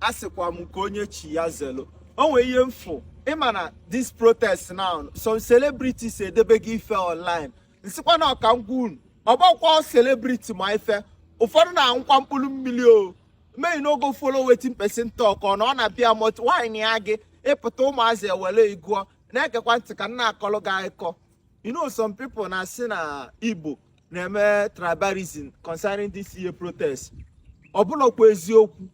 asịkwa m ka onye chi ya zelo o nwee ihe m fụ ị ma na this protest now some celebrities edebego ife online n sịkwa na ọka ngwa unu ọ bụkwa celebrity ma ife ụfọdụ na-aṅụkwa mkpụrụ mmiri o me I no go follow wetin person talk ọ na ọ na-abịa mot wine ya gị ị pụta ụmụazị ewere ị gụọ na-egekwa ntị ka m na-akọlụ gị akụkọ you know some people na-asị na igbo na-eme tribalism concerning this year protest ọ bụlọkwa eziokwu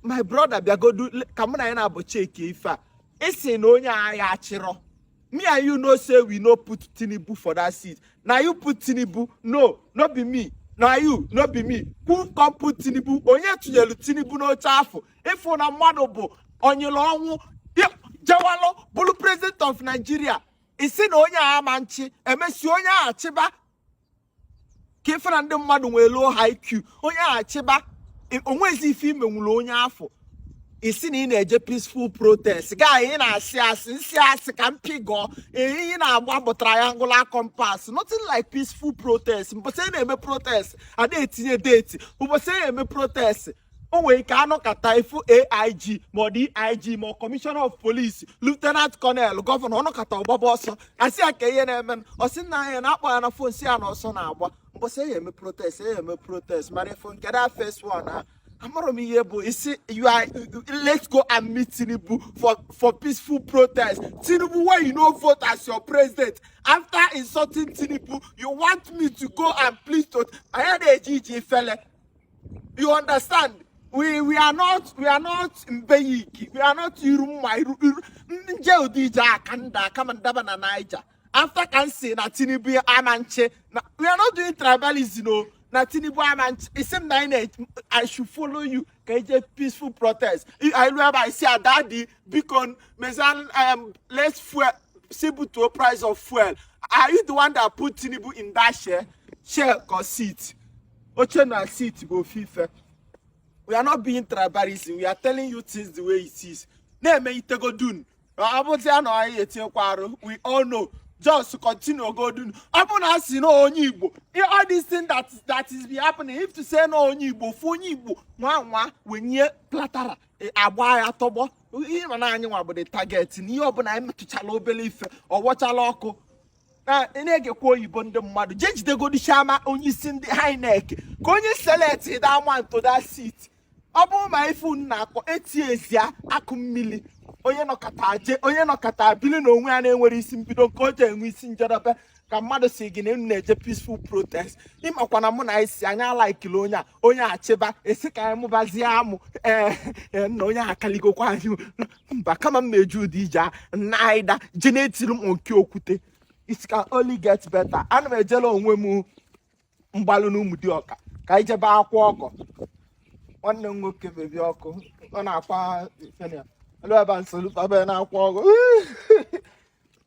my brother bịagodu ka mụ na gị naabọ chekie ife a ị sị na onye a achịrọ me and you know say we no put tinubu for that seat na you put tinubu no no be me na you no be me who come put tinubu onye tinyelu tinubu n'oche afụ ị fụ na mmadụ bụ onyere ọnwụ jewalụ bụrụ president of nigeria ị sị na onye a ama nchị e mesịa onye a chịba ka ị fụ na ndị mmadụ nwee low IQ onye a chịba o nwezi ife i menwuru onye afụ ị sị na ị na-eje peaceful protest guy ị na-asị asị n sị a sị ka mpi gọọ ị na-agba bụ triangular compass nothing like peaceful protest mbọsị na-eme protest a da etinye date ụbọsị na-eme protest o nwere ike a nọkata ị fụ AIG ma DIG ma commissioner of police lieutenant colonel governor ọ nọkata ọ gbaba ọsọ a sị ya kee ihe na-eme ọ sị nna ya na-akpọ ya na phone sị ya na ọsọ na-agba mbọsị eyi eme protest eyi eme protest mara ị fụ nke that first one ha amụrụ m ihe bụ isi you are let's go and meet tinubu for for peaceful protest tinubu wey you no vote as your president after insulting tinubu you want me to go and plead to anya na-eji iji ifele you understand we we are not we are not mbeyiki we are not iru mma iru iru njọ ụdị ije aka nda aka ma ndaba na naija after ka m sị na tinubu ama nchị na we are not doing tribalism o na tinubu ama nchị ị sị m na anyị na i should follow you ka e je peaceful protest i lu ebe ị sị ya daddy biko mezan um, let's fuel si butuo price of fuel are you the one that put tinubu in that chair chair or seat oche na seat bụ ofu ife we are not being tribalism we are telling you things the way it is na-eme itegodun ọ bụzi a na anyị etinyekwa arụ we all know just continue godu nu ọ bụ na a sị na onye igbo all this thing that that is be happening if to say na onye igbo fụ onye igbo nwa nwa wenye platara e, a gba ya tọgbọ ị ma na anyị nwa bụ the target na ihe ọbụla anyị metụchala obere ife ọ wọchala ọkụ na-egekwa oyibo ndị mmadụ jee jidegodi chairman onye isi ndị INEC kee onye select that man to that seat ọ bụrụ ma ife unu na-akọ eight years akụ mmiri onye nọkata je onye nọkata bili na onwe ya na-enwere isi mbido nke o ji enwe isi njedebe ka mmadụ sị gị na unu na-eje peaceful protest ị makwa na mụ na isi anya alaikili onye a onye achịba a sị ka anyị mụbazie amụ ee eh, eh, na onye akaligokwa anyị mba kama m na-eji ụdị ije a naida je na-etiri m nke okwute it can only get better ana m ejela onwe m mgbalụ n'Ụmụdịọka ka anyị jebe akwa ọgọ nwanne m nwoke bebi ọkụ ọ na-akwa ebe a nsogbu na-akwa ọgọ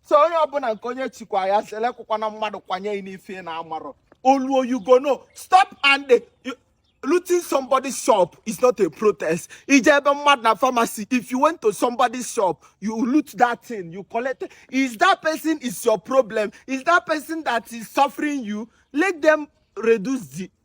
so onye ọbụla nke onye chikwa ya selekwụkwana mmadụ kwanye n'ife na amarọ oluo you go no stop and looting somebody's shop is not a protest. Ijebe mad na pharmacy. If you went to somebody's shop, you loot that thing, you collect it. Is that person is your problem? Is that person that is suffering you? Let them reduce the